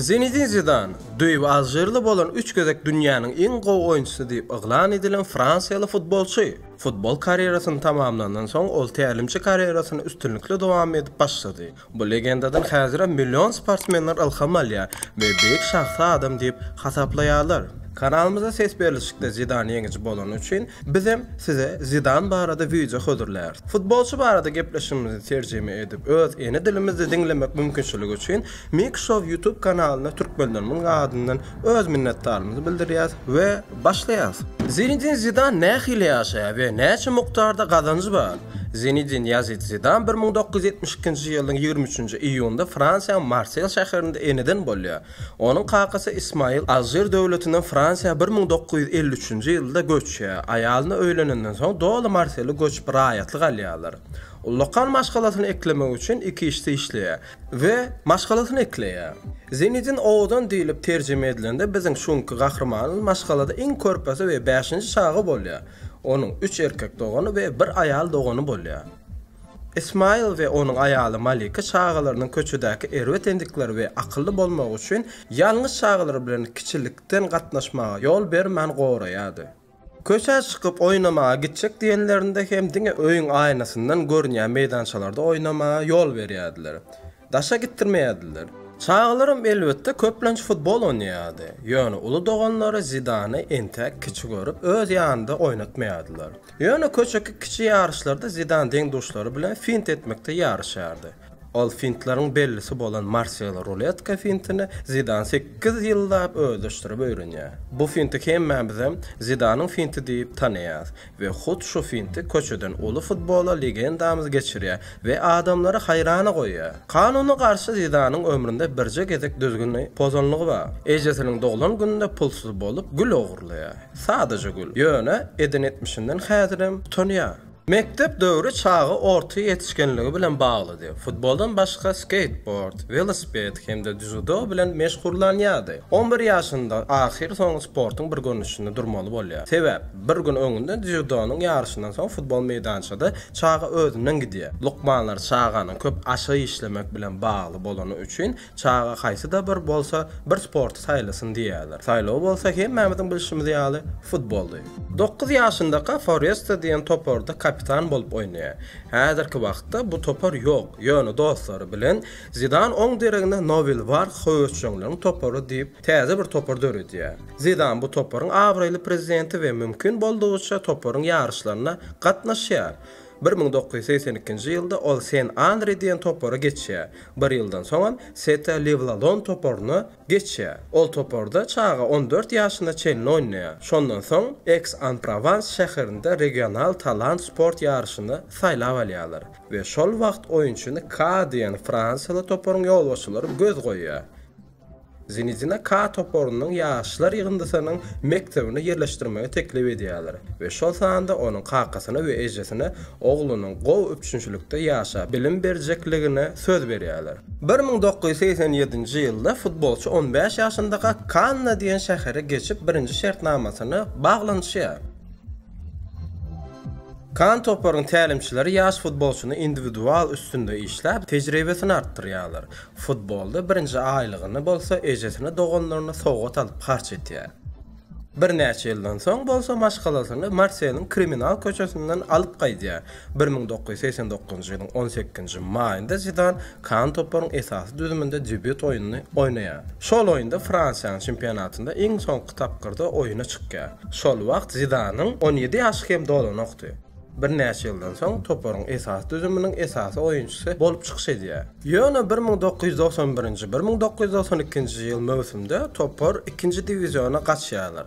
Zinedin Zidan, Düýbi alžirli bolan üç gezek dünýäniň iň gowy oýunçysy diýip yglan edilen fransiýaly futbolçy. Futbol karýerasyny tamamlandan soň, ol tälimçi karýerasyny üstünlikli dowam edip başlady. Bu legendadan häzirem million sportsmenler ylham alýar we beýik şahsy adam diýip hasaplaýarlar. Kanalymyzda ses berlişikde Zidan ýeňiji bolany üçin, bizem size Zidan barada wideo hödürläris. Futbolçy barada gepleşigimizi terjime edip öz ene dilimizde diňlemek mümkinçiligi üçin Mik Show YouTube kanalyna türkmenlerimiň adyndan Öz minnetdarymyzy bildirýäs we başlaýarys. Zinedin Zidan nähili ýaşaýar we näçe mukdarda gazanjy bar? Zinedin Ýazid Zidan bir müň dokuz ýüz ýetmiş ikinji ýylyň ýigrimi üçünji iýunynda Fransiýanyň Marsel şäherinde eneden bolýar. Onuň kakasy Ismail Alžir döwletinden Fransiýa bir müň dokuz ýüz elli üçünji ýylda göçýär. Aýalyna öýlenenden soň doly marseli göçüp raýatlyk alýarlar. Ullakan maşgalasyny eklemek üçin iki işde işleýär. we maşgalasyny ekleýär. Zenedin owadan diýlip terjime edilende biziň şu günki gahrymanyz maşgalada iň körpesi we bäşinji çaga bolýar. Onuň üç erkek dogany we bir aýal dogany bolýar. Ismaýyl we onuň aýaly Malika çagalarynyň köçedäki erbet endikleri we akylly bolmagy üçin ýalňyz çagalar bilen kiçilikden gatnaşmaga ýol bermän goraýardy. Köçä çykyp oýnamaga gitjek diýenlerinde hem diňe öýüň aýnasyndan görünýän meýdançalarda oýnamaga ýol berýärdiler. Daşa gitdirmeýärdiler. Çagalaram elbetde köplenç futbol oýnaýardy. Ýöne uly doganlary Zidany entäk kiçi görüp öz ýanynda oýnatmaýardylar. Ýöne köçeki kiçi ýaryşlarda Zidan deň-duşlary bilen fint etmekde ýaryşýardy. Ol fintleriň bellisi bolan Marselo ruletka fintini Zidan sekiz ýyllap özleşdirip öwrenýär. Bu finti hemmämizem Zidanyň finti diýip tanaýarys we hut şu finti köçeden uly futbola legendamyz geçirýär we adamlary haýrana goýýar. Kanuna garşy Zidanyň ömründe birje gezek düzgüni pozanlygy bar. Ejesiniň doglan gününde pulsuz bolup gül ogurlaýar. Sadaja gül. Ýöne eden etmişinden häzirem utanýar. Mekdep döwri çaga orta ýetişgenligi bilen baglydy. Futboldan başga skeýtbord, welosiped hem-de dzýudo bilen meşgullanýardy. On bir ýaşynda ahyrsoňy sportuň bir görnüşinde durmaly bolýar. Sebäp, bir gün öňünde dzýudonyň ýaryşyndan soň futbol meýdançada çaga özünden gidýär. Lukmanlar çaganyň köp aşa işlemek bilen bagly bolany üçin Çaga haýsy-da bir bolsa bir sporty saýlasyn diýýärler. Saýlaw bolsa hemmämiziň bilşimiz ýaly futboldy. Dokuz ýaşyndaka Foresta diýen toparda kapitan bolup oýnaýar. Häzirki wagtda bu topar ýok, ýöne dostlary bilen Zidan oň deregine Nowil Wark höwesjeňleriň topary diýip täze bir topar döredýär. Zidan bu toparyň abraýly prezidenti we mümkin boldugyça toparyň ýaryşlaryna gatnaşýar. Bir müň dokuz ýüz segsen ikinji ýylda ol Sen Anri diýen topara geçýär. Bir ýyldan soňam Sete Lewlalon toparyna geçýär. Ol toparda çaga on dört ýaşyna çenli oýnaýar. Şondan soň Eks-an-Provans şäherinde regional talant sport ýaryşyna saýlap alýarlar we şol wagt oýunçyny Ka diýen fransiýaly toparyň ýolbaşçylary göz goýýar. Zinedina K toparynyň ýaşlar ýygyndysynyň mekdebine ýerleşdirmegi teklip edýärler we şol sanda onuň kakasyna we ejesine oglunyň gowy üpjünçilikde ýaşap bilim berjekligine söz berýärler. Bir müň dokuz ýüz segsen ýedinji ýylda futbolçy on bäş ýaşyndaka Kanna diýen şähere geçip birinji şertnamasyny baglanyşýar. Kann toparynyň tälimçileri ýaş futbolçyny indiwidual üstünde işläp, tejribesini artdyrýarlar. Futbolda birinji aýlygyny bolsa ejesine doganlaryna sowgat alyp harç etýär. Birnäçe ýyldan soň bolsa maşgalasyny Marseliň kriminal köçesinden alyp gaýdýar. Bir müň dokuz ýüz segsen dokuzynjy ýylyň on sekizinji maýynda Zidan Kan toparyň esasy düzüminde debýut oýnuny oýnaýar. Şol oýunda Fransiýanyň çempionatynda iň soňky tapgyrda oýuna çykýar. Şol wagt Zidanyň on ýedi ýaşy hem dolanokdy. Birnäçe ýyldan soň toparyň esasy düzüminiň esasy oýunçysy bolup çykyş edýär. Ýöne bir müň dokuz ýüz togsan birinji, bir müň dokuz ýüz togsan ikinji ýyl möwsümde topar ikinji diwiziona gaçýarlar.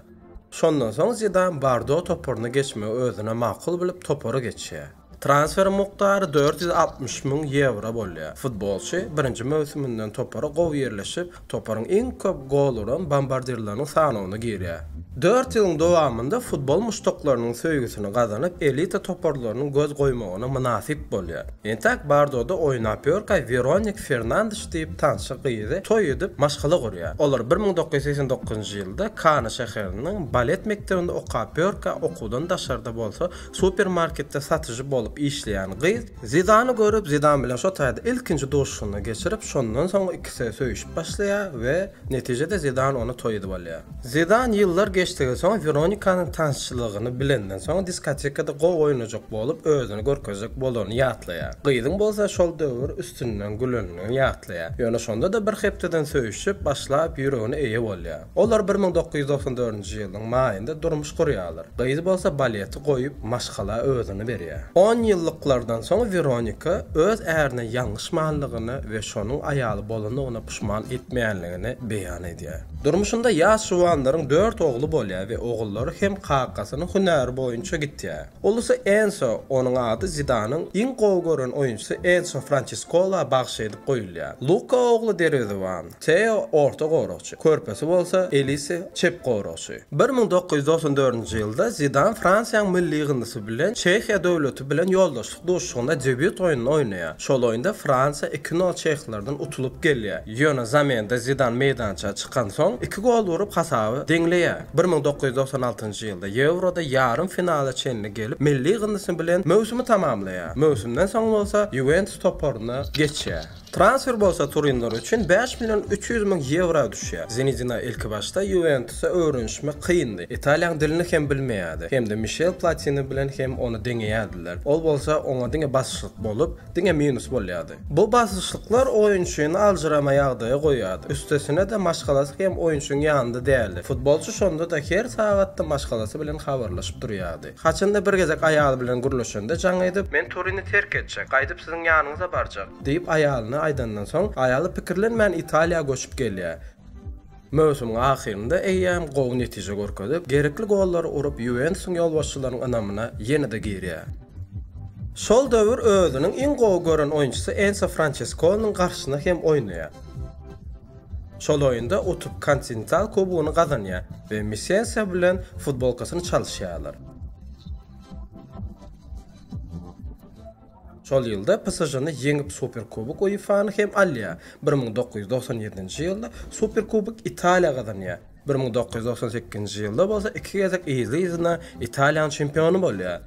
Şondan soň Zidan Bardo toparyna geçmegi özüne makul bilip topara geçýär. Transferiň mukdary dört ýüz altmyş müň ýewro bolýar. Futbolçy birinji möwsüminden topara gowy ýerleşip, Toparyň iň köp gol uran bombardirleriniň sanawyna girýär. Dört ýylyň dowamynda futbol muşdaklarynyň söýgüsini gazanyp, elita toparlarynyň göz goýmagyna mynasyp bolýar. Entäk Bardoda oýnap ýörkä Weronik Fernandiş diýip tanşy gyzy toý edip, maşgala gurýar. Olar bir müň dokuz ýüz segsen dokuzynjy ýylda Kana şäheriniň balet mekdebinde okap ýörkä, okuwdan daşarda bolsa supermarketde satyjy bolup işleýän gyz, Zidany görüp, Zidan bilen şo taýda ilkinji duşuşygyny geçirip, şondan soň ikisi söýüşip başlaýar we netijede Zidan ony toý edip alýar. Zidan ýyllar geçdigiň soň Weronikanyň tansçylygyny bilenden soň diskotekada gowy oýnajak bolup özüni görkezjek bolanyny ýatlaýar. Gyzyň bolsa şol döwür üstünden gülenini ýatlaýar. Ýöne şonda-da bir hepdeden söýüşip başlap ýüregine eýe bolýar. Olar bir müň dokuz ýüz doksan dördünji ýylyň maýynda durmuş gurýarlar. Gyz bolsa baleti goýup, maşgala özüni berýär. Onýyllyklardan soň Weronika öz ärine ýalňyşmanlygyny we şonuň aýaly bolanyna puşman etmeýänligini beýan edýär. Durmuşynda ýaş juwanlaryň dört ogly bolýar we ogullary hem kakasynyň hünäri boýunça gitýär. Ulusy Enso, onuň ady Zidanyň iň gowy gören oýunçysy Enso Françeskola bagş edip goýulýar. Luka ogly derwezebon. Teo, orta goragçy. Körpesi bolsa, Elise, çep goragçy. Bir müň dokuz ýüz doksan dördünji ýylda Zidan Fransiýanyň milli ýygyndysy bilen Çehiýa döwleti bilen ýoldaşlyk duşuşygynda debýut oýnuny oýnaýar. Şol oýunda Fransiýa iki nol çehlerden utulyp gelýär. Ýöne zamenada Zidan meýdança çykansoň, iki gol urup, hasaby deňleýär. Bir müň dokuz ýüz doksan altynjy ýylda Ýewroda ýarym finala çenli gelip, milli ýygyndysy bilen möwsümi tamamlaýar. Möwsümden soň bolsa Ýuwentus toparyna geçýär. Transfer bolsa turinler üçin bäş million üç ýüz müň ýewra düşýär. Zinedina ilkibaşda Ýuwentusa öwrenişmek kyndy. Italiýaň dilini hem bilmeýärdi. Hem-de Mişel Platini bilen hem ony deňeýärdiler. Ol bolsa oňa diňe basyşlyk bolup, diňe minus bolýardy. Bu basyşlyklar oýunçyny aljyrama ýagdaýa goýýardy. Üstesine-de maşgalasy hem oýunçyň ýanynda däldi. Futbolçy şonda-da her sagatda maşgalasy bilen habarlaşyp durýardy. Haçanda bir gezek aýaly bilen gürleşende jaň edip, Men Turini terk etjek, gaýdyp siziň ýanyňyza barjak! diýip aýalyna aýdandan soň, aýaly pikirlenmän Italiýa göçüp gelýär. Möwsümiň ahyrynda eýýäm gowy netije görkezip, gerekli gollary urup Ýuwentusyň ýolbaşçylaryň ynamyna ýene-de girýär. Şol döwür özüniň iň gowy gören oýunçysy Enso Françeskoniniň garşysyna hem oýnaýar. Şol oýunda utup Kontinental kubogyny gazanýar we Misesa bilen futbolkasyny çalyşýarlar. Şol ýylda PSŽ-ny ýeňip Superkubok UEFA-ny hem alýar. Bir müň dokuz ýüz togsan ýedinji ýylda Superkubok Italiýa gazanýar. Bir müň dokuz ýüz togsan sekizinji ýylda bolsa iki gezek yzly-yzyna Italiýanyň çempiony bolýar.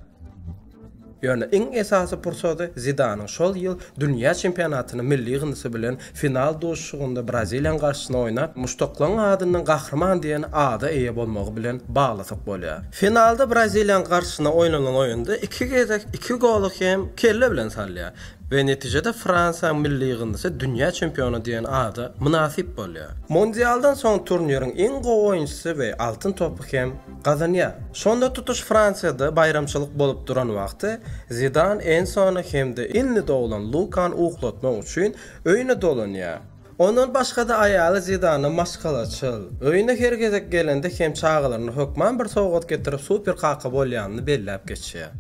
Ýöne iň esasy pursady Zidanyň şol ýyl dünýä çempionatyny milli ýygyndysy bilen final duşuşygynda Braziliýanyň garşysyna oýnap, muşdaklaryň adyndan Gahryman diýen ada eýe bolmagy bilen baglasak bolýar. Finalda Braziliýanyň garşysyna oýnanan oýunda iki gezek iki goly hem kelle bilen salýar. we netijede Fransiýanyň milli ýygyndysy dünýä çempiony diýen ada mynasyp bolýar. Mundialdan soň turniriň iň gowy oýunçysy we Altyn topy hem gazanýar. Şonda tutuş Fransiýada baýramçylyk bolup duran wagty Zidan Ensony hem-de indi doglan Lukany uklatmak üçin öýüne dolanýar. Ondan başga-da aýaly Zidana maşgalaçyl, öýüne her gezek gelende hem çagalaryna hökman bir sowgat getirip super kaka bolýanyny belläp geçýär.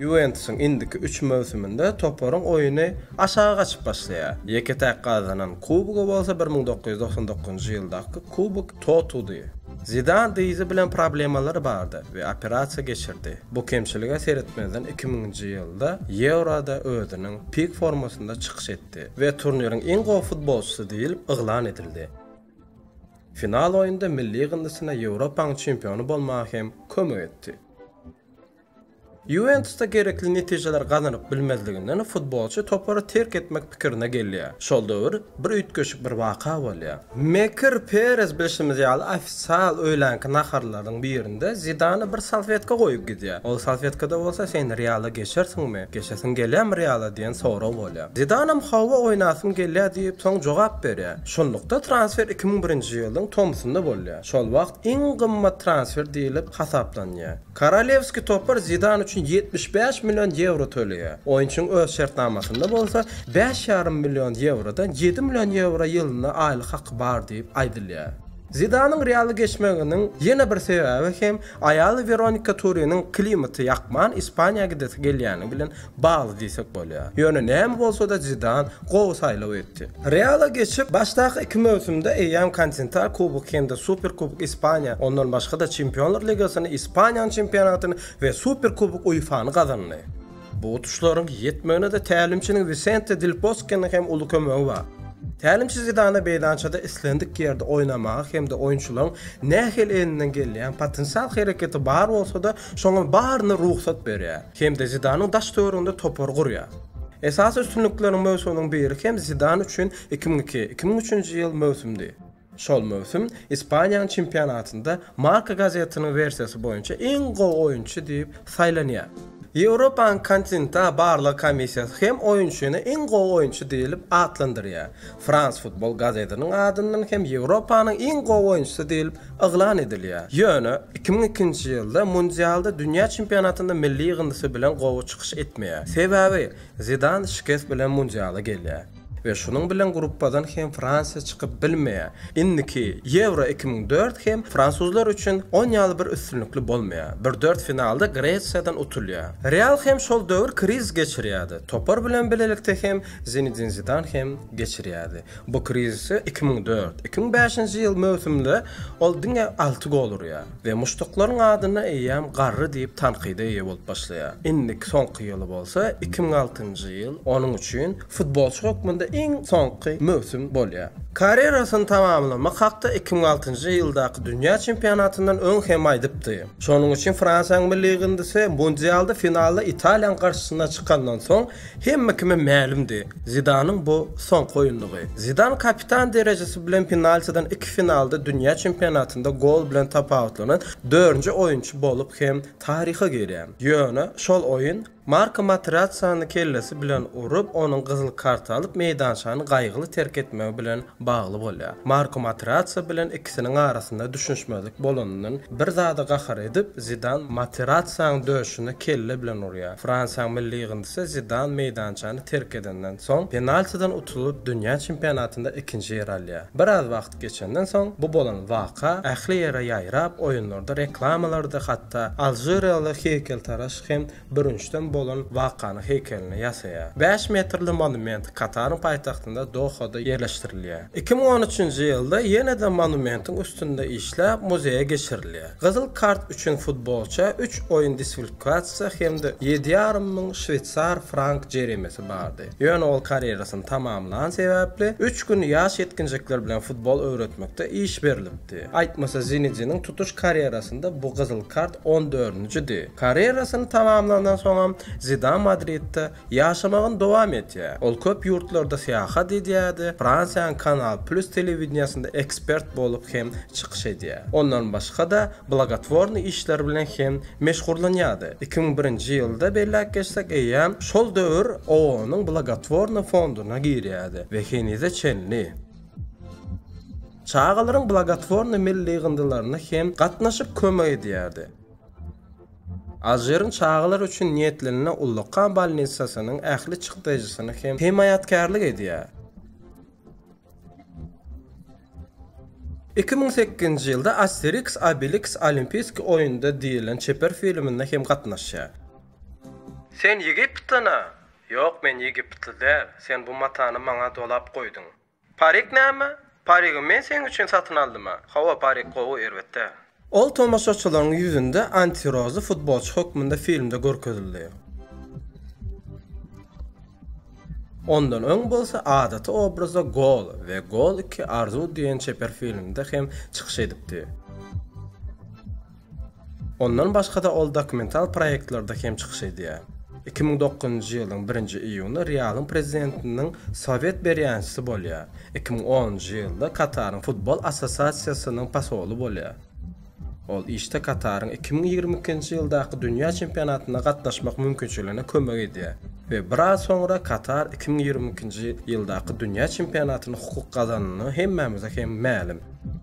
Ýuwentusyň indiki üç möwsüminde toparyň oýny aşagy gaçyp başlaýar. Ýeke-täk gazanan kubogy bolsa bir müň dokuz ýüz togsan dokuzynjy ýyldaky Kubok Totudy. Zidan dyzy bilen problemalary bardy we operasiýa geçirdi. Bu kemçilige seretmezden iki müňünji ýylda Ýewroda özüniň pik formasynda çykyş etdi we turniriň iň gowy futbolçysy diýlip yglan edildi. Final oýunda milli ýygyndysyna Ýewropaň çempiony bolmaga hem kömek etdi. Ýuwentusda gerekli netijeleri gazanyp bilmezliginden futbolçy topary terk etmek pikirine gelýär. Şol döwür Bir üýtgeşik bir waka bolýar. Mekir Perez bilşimiz ýaly ofisial öýlänki naharlarynyň birinde Zidana bir salfetka goýup gidýär. Ol salfetkada bolsa sen Reala geçersiňmi, geçesiň gelýärmi Reala diýen sorag bolýar. Zidanam hawa oýnasym gelýär diýip soň jogap berýär. Şunlukda transfer iki müň birinji ýylyň tomsunda bolýar. Şol wagt iň gymmat transfer diýlip hasaplanýar. Korolewskiý topar Zidan üçin ýetmiş bäş million ýewro töleýär. Oýunçynyň öz şertnamasynda bolsa bäş ýarym million ýewrodan ýedi million ýewro ýylyna aýlyk haky bar diýip aýdylýar. Zidanyň Realda geçmeginiň ýene bir sebäbi hem aýaly Weronika Turiniň klimaty ýakman Ispaniýa gidesi gelýändigi bilen bagly diýsek bolýar. Ýöne näme bolsa-da Zidan gowy saýlaw etdi. Reala geçip, başdaky iki möwsümde eýýäm Kontintal Kuboky hem-de Superkubok Ispaniýa, ondan başga-da Çempionlar ligasyny, Ispaniýanyň çempionatyny we Superkubok UEFA-ny gazandy. Bu utuşlaryň ýetmegine-de tälimçiniň Wisente Del Boskeniň hem uly kömegi bar. Tälimçi Zidana meýdançada islendik ýerde oýnamaga hem-de oýunçylaryň nähili elinden gelýän potensial hereketi bar bolsa-da, şoňa baryny rugsat berýär. hem-de Zidanyň daş-töwereginde topar gurýar. Esasy üstünlikleriň möwsüminiň biri hem Zidan üçin iki müň iki, iki müň üçünji ýyl möwsümdi. Şol möwsüm Ispaniýanyň çempionatynda Marca gazetiniň wersiýasy boýunça iň gowy oýunçy diýip saýlanýar. Ýewropanyň Continta barlag komissiýasy hem oýunçyny iň gowy oýunçy diýlip atlandyrýar. France Football gazetiniň adyndan hem Ýewropanyň iň gowy oýunçysy diýlip yglan edilýär. Ýöne, iki müň ikinji ýylda mundialda dünýä çempionatynda milli ýygyndysy bilen gowy çykyş etmeýär. Sebäbi Zidan şikes bilen mundiala gelýär we şunuň bilen gruppadan hem Fransiýa çykyp bilmeýär. Indiki Ýewro iki müň dört hem fransuzlar üçin on ýaly bir üstünlikli bolmaýar. Bir dört finalda Gresiýadan utulýar. Real hem şol döwür krizis geçirýärdi. Topar bilen bilelikde hem Zinedin Zidan hem geçirýärdi. Bu krizise iki müň dört, iki müň bäşinji ýyl möwsüminde ol diňe alty gol urýar we muşdaklaryň adynda eýýäm garry diýip tankyda eýe bolup başlaýar. Indiki soňky ýyly bolsa iki müň altynjy ýyl onuň üçin futbolçy hökmünde iň soňky möwsüm bolýar. Karýerasyny tamamlamak hakda iki müň altynjy ýyldaky dünýä çempionatyndan öň hem aýdypdy. Şonuň üçin Fransiýanyň milli ýygyndysy mundialda finalda Italiýanyň garşysyna çykandan soň Hemme kime mälimdi, Zidanyň bu soňky oýundygy. Zidan kapitan derejesi bilen penaltiden iki finalda dünýä çempionatynda gol bilen tapawutlanan dördünji oýunçy bolup hem taryha girýär. Ýöne şol oýun Marko Materacciany kellesi bilen urup, onuň gyzyl kart alyp, meýdançany gaýgyly terk etmegi bilen bagly bolýar. Marko Materazzi bilen ikisiniň arasynda düşünişmezlik bolanyndan bir zada gahar edip, Zidan Materazziň döşüne kelle bilen urýar. Fransiýanyň milli ýygyndysy Zidan meýdançany terk edenden soň, penaltiden utulyp, dünýä çempionatynda ikinji ýeri alýar. Biraz wagt geçenden soň, bu bolan waka ähli ýere ýaýrap, oýunlarda, reklamalarda hatda alžiriýaly heýkeltaraş hem bürünçden bolan wakany heýkelini ýasaýar. Bäş metrli monument Kataryň paýtagtynda Dohada ýerleşdirilýär. Iki müň on üçünji ýylda ýene-de monumentiň üstünde işläp, muzeýe geçirilýär. Gyzyl kart üçin futbolça üç oýun disflkasiýasy hem-de ýedi ýarym müň şweýsar frank jeremesi bardy. Ýöne ol karýerasyny tamamlany sebäpli, üç gün ýaş ýetginjekler bilen futbol öwretmekde iş berlipdi. Aýtmasa Zinediniň tutuş karýerasynda bu gyzyl kart on dördünjidi. Karýerasyny tamamlandan soňam Zidan Madridde ýaşamagyny dowam etýär. Ol köp ýurtlarda syýahat edýärdi, Fransiýanyň Kanal Plus telewideniýesinde ekspert bolup hem çykyş edýär. Ondan başga-da blagotwornyý işler bilen hem meşgurlanýardy. Iki müň birinji ýylda, belläp geçsek, eýýäm şol döwür OON-yň blagotwornyý fonduna girýärdi we henize çenli çagalaryň blagotwornyý milli ýygyndylaryna hem gatnaşyp kömek edýärdi. Alžiriň çagalar üçin niýetlenilen ullakan bolnitsasynyň ähli çykdaýjysyny hem hemaýatkärlik edýär. Iki müň sekizinji ýylda Asteriks Obiliks Olimpiýskiý oýunda diýlen çeper filminde hem gatnaşýar. Sen Ýegiptlyna? Ýok, men ýegiptly däl. Sen bu matany maňa dolap goýduň. Parik näme? Parigi men seň üçin satyn aldym-a. Hawa, parik gowy, erbet-dä. Ol tomaşaçylaryň ýüzünde antirozly futbolçy hökmünde filmde görkezildi. Ondan öň bolsa adaty obrazda Gol we Gol iki, Arzuw diýen çeper filmde hem çykyş edipdi. Ondan başga-da ol dokumental proýektlerde hem çykyş edýär. Iki müň dokuzynjy ýylyň birinji iýuny Realyň prezidentiniň sowet berýänçisi bolýar, iki müň onunjy ýylda Kataryň futbol assosiasiýasynyň posoly bolýar. Ol işde Kataryň iki müň ýigrimi ikinji ýyldaky dünýä çempionatyna gatnaşmak mümkinçiligine kömek edýär we biraz soňra Katar iki müň ýigrimi ikinji ýyldaky dünýä çempionatyny hukuk gazananyny hemmämize hem mälim.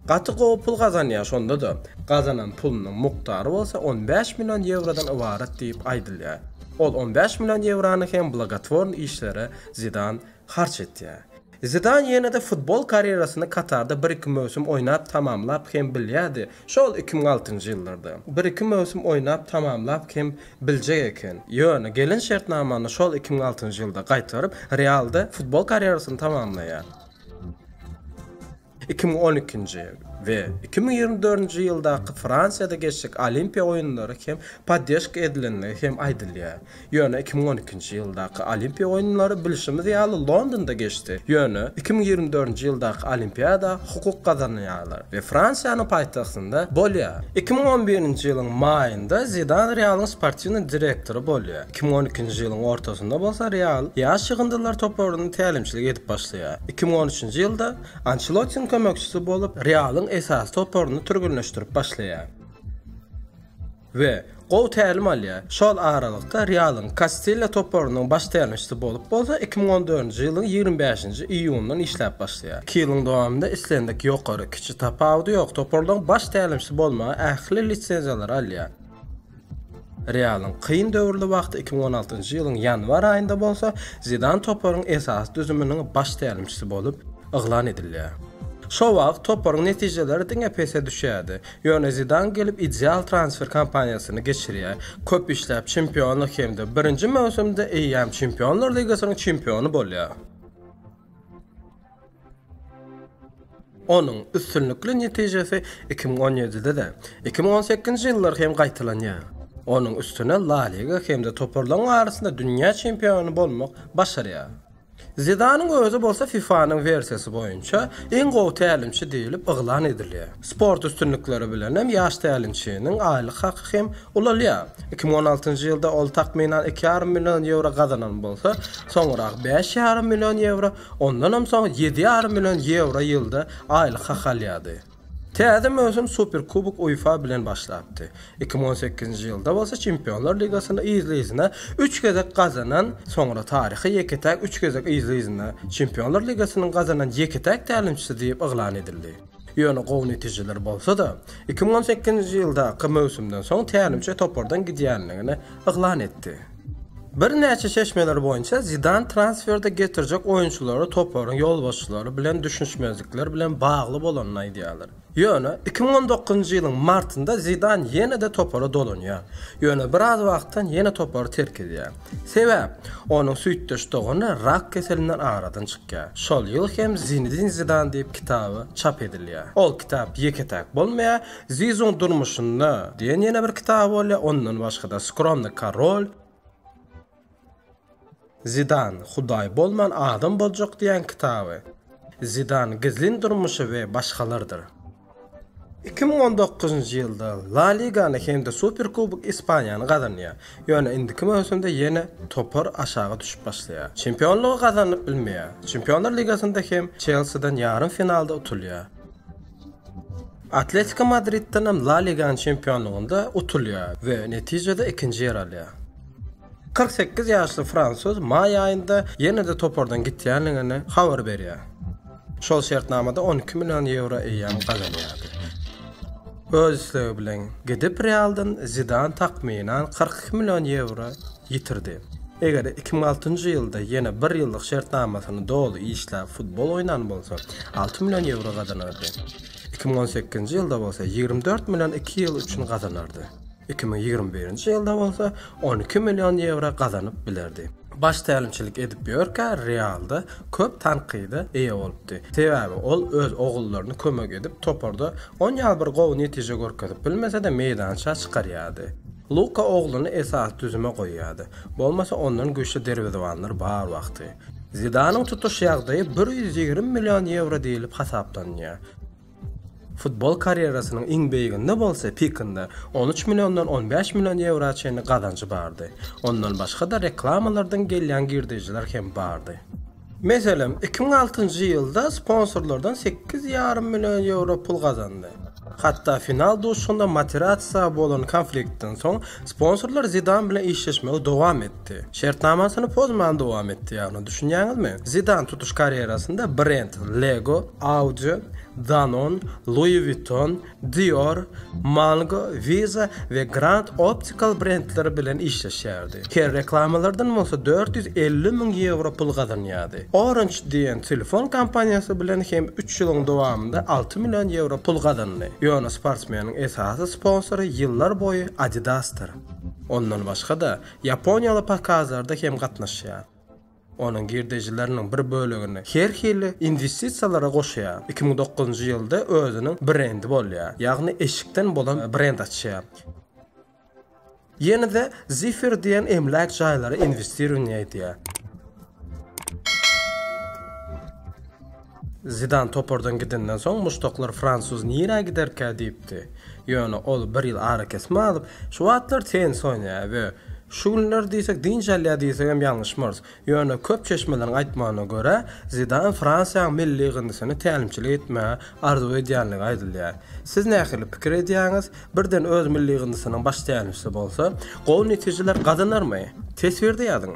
Gaty gowy pul gazanýar şonda-da. Gazanan pulunyň mukdary bolsa on bäş million ýewrodan ybarat diýip aýdylýar. Ol on bäş million ýewrony hem blogotworny işlere Zidan harç etýär. Zidan ýene-de futbol karýerasyny Katarda bir-iki möwsüm oýnap tamamlap hem bilýärdi, şol iki müň altynjy ýyllarda. Bir-iki möwsüm oýnap tamamlap hem biljek eken. Ýöne gelen şertnamany şol iki müň altynjy ýylda gaýtaryp, Realda futbol karýerasyny tamamlaýar. Iki müň on ikinji we iki müň ýigrimi dördünji ýyldaky Fransiýada geçjek Olimpiýa oýunlary hem poddeşka edilendigi hem aýdylýar. Ýöne iki müň on ikinji ýyldaky Olimpiýa oýunlary bilşimiz ýaly Londonda geçdi. Ýöne iki müň ýigrimi dördünji ýyldaky Olimpiýada hukuk gazanýarlar we Fransiýanyň paýtagtynda bolýar. Iki müň on birinji ýylyň maýynda Zidan Realyň sportiwnyý direktory bolýar. Iki müň on ikinji ýylyň ortasynda bolsa Real ýaş ýygyndylar toparyna tälimçilik edip başlaýar. Iki müň on üçünji ýylda Ançelotiň kömekçisi bolup, Realyň esasy toparyny türgenleşdirip başlaýar we gowy tälim alýar. Şol aralykda Realyň Kastilýa toparynyň baş tälimçisi bolup bolsa iki müň on dördünji ýylyň ýigrimi bäşinji iýunyndan işläp başlaýar. Iki ýylyň dowamynda islendik ýokary, kiçi tapawudy ýok toparlaryň baş tälimçisi bolmaga ähli lisenziýalary alýar. Realyň kyn döwürli wagty iki müň on altynjy ýylyň ýanwar aýynda bolsa, Zidan toparyň esasy düzüminiň baş tälimçisi bolup yglan edilýär. Şo wagt toparyň netijeleri diňe pese düşýärdi. Ýöne Zidan gelip ideal transfer kampaniýasyny geçirýär. Köp işläp çempionlyk hem-de birinji möwsümde eýýäm Çempionlar ligasynyň çempiony bolýar. Onuň üstünlikli netijesi iki müň on ýedide-de, iki müň on sekizinji ýyllar hem gaýtalanýar. Onuň üstüne La Liga hem-de toparlaryň arasynda dünýä çempiony bolmak başarýar. Zidanyň özi bolsa FIFA-nyň wersiýasy boýunça iň gowy tälimçi diýlip yglan edilýär. Sport üstünlikleri bilenem ýaş tälimçiniň aýlyk haky hem ulalýar. Iki müň on altynjy ýylda ol takmynan iki ýarym million ýewro gazanan bolsa, soňrak bäş ýarym million ýewro Ondanam soň ýedi ýarym million ýewro ýylda aýlyk hak alýardy. Täze möwsüm Superkubok UEFA bilen başlapdy. Iki müň on sekizinji ýylda bolsa Çempionlar ligasyny yzly-yzyna üç gezek gazanan, soňra taryhy ýeke-täk üç gezek yzly-yzyna Çempionlar ligasynyň gazanan ýeke-täk tälimçisi diýip yglan edildi. Ýöne gowy netijeler bolsa-da, iki müň on sekizinji ýyldaky möwsümden soň tälimçi topardan gidýändigini yglan etdi. Birnäçe çeşmeler boýunça Zidan transferde getirjek oýunçylary toparyň ýolbaşçylary bilen düşünişmezlikler bilen bagly bolanyny aýdýarlar. Ýöne iki müň on dokuzynjy ýylyň martynda Zidan ýene-de topara dolanýar, ýöne biraz wagtdan ýene topary terk edýär. Sebäp, onuň süýtdeş dogany rak keselinden aradan çykýar. Şol ýyl hem Zinedin Zidan diýip kitaby çap edilýär. Ol kitap ýeke-täk bolmaýar, Zizuň durmuşynda diýen ýene bir kitaby bolýar, ondan başga-da Skromny korol, Zidan, Hudaý bolman adam boljak diýen kitaby, Zidan, gizlin durmuşy we başgalardyr. Iki müň on dokuzynjy ýylda La Ligany hem-de Superkubok Ispaniýany gazanýar, ýöne indiki möwsümde ýene topar aşaga düşüp başlaýar. Çempionlygy gazanyp bilmeýär. Çempionlar ligasynda hem Çelsiden ýarym finalda utulýar. Atletiko Madriddenem La Liganyň çempionlygynda utulýar we netijede ikinji ýer alýar. Kyrk sekiz ýaşly fransuz maý aýynda ýene-de topardan gitýändigini habar berýär. Şol şertnamada on iki million ýewro eýýäm gazanýardy. Öz islegi bilen gidip Realdan Zidan takmynan kyrk iki million ýewro ýitirdi. Eger iki müň altynjy ýylda ýene bir ýyllyk şertnamasyny doly işläp futbol oýnan bolsa, alty million ýewro gazanardy. Iki müň on sekizinji ýylda bolsa ýigrimi dört million iki ýyl üçin gazanardy. Iki müň ýigrimi birinji ýylda bolsa on iki million ýewro gazanyp bilerdi. Baş tälimçilik edip ýörkä Realda köp tankyda eýe bolupdy. Sebäbi ol öz ogullaryny kömek edip toparda on ýaly bir gowy netije görkezip bilmese-de meýdança çykarýardy. Luka ogluny esasy düzüme goýýardy. Bolmasa ondan güýçli derwezebanlar bar wagty. Zidanyň tutuş ýagdaýy bir ýüz ýigrimi million ýewro diýlip hasaplanýar. Futbol karýerasynyň iň beýiginde bolsa Pikinde on üç milliondan on bäş million ýewroa çenli gazanjy bardy. Ondan başga-da reklamalardan gelýän girdejiler hem bardy. Meselem, iki müň altynjy ýylda sponsorlardan sekiz ýarym million ýewro pul gazandy. Hatda final duşuşygynda Materazza bolan konfliktden soň sponsorlar Zidan bilen işleşmegi dowam etdi. etdi. Şertnamasyny pozman dowam etdi, ýagny, düşünýäňizmi? Zidan tutuş karýerasynda brend Lego, Audi, Danone, Louis Vuitton, Dior, Mango, Visa we Grand Optical brendleri bilen işleşýärdi. Her reklamalardan bolsa dört ýüz elli müň ýewro pul gazanýardy. Orange diýen telefon kompaniýasy bilen hem üç ýylyň dowamynda alty million ýewro pul gazandy. Ýöne sportsmeniň esasy sponsory ýyllar boýy Adidas-dyr. Ondan başga-da, Ýaponiýaly pokazlarda hem gatnaşýar. Onuň girdejileriniň bir bölegini her hili inwestisiýalara goşýar. Iki müň dokuzynjy ýylda özüniň brendi bolýar, ýagny eşikden bolan brend açýar. Ýene-de Zifir diýen emläk jaýlara inwestirowaniýa edýär. Zidan topardan gidenden soň muşdaklar fransuz nirä giderkä diýipdi. Ýöne ol bir ýyl arakesme alyp, şu wagtlar tennis oýnaýar we şu günler diýsek dynç alýar diýsegem ýalňyşmarys. Ýöne köp çeşmeleriň aýtmagyna görä, Zidan Fransiýanyň milli ýygyndysyna tälimçilik etmegi arzuw edýändigi aýdylýar. Siz nähili pikir edýäňiz? Birden öz milli ýygyndysynyň baş tälimçisi bolsa, gowy netijeler gazanarmy? Teswirde ýazyň!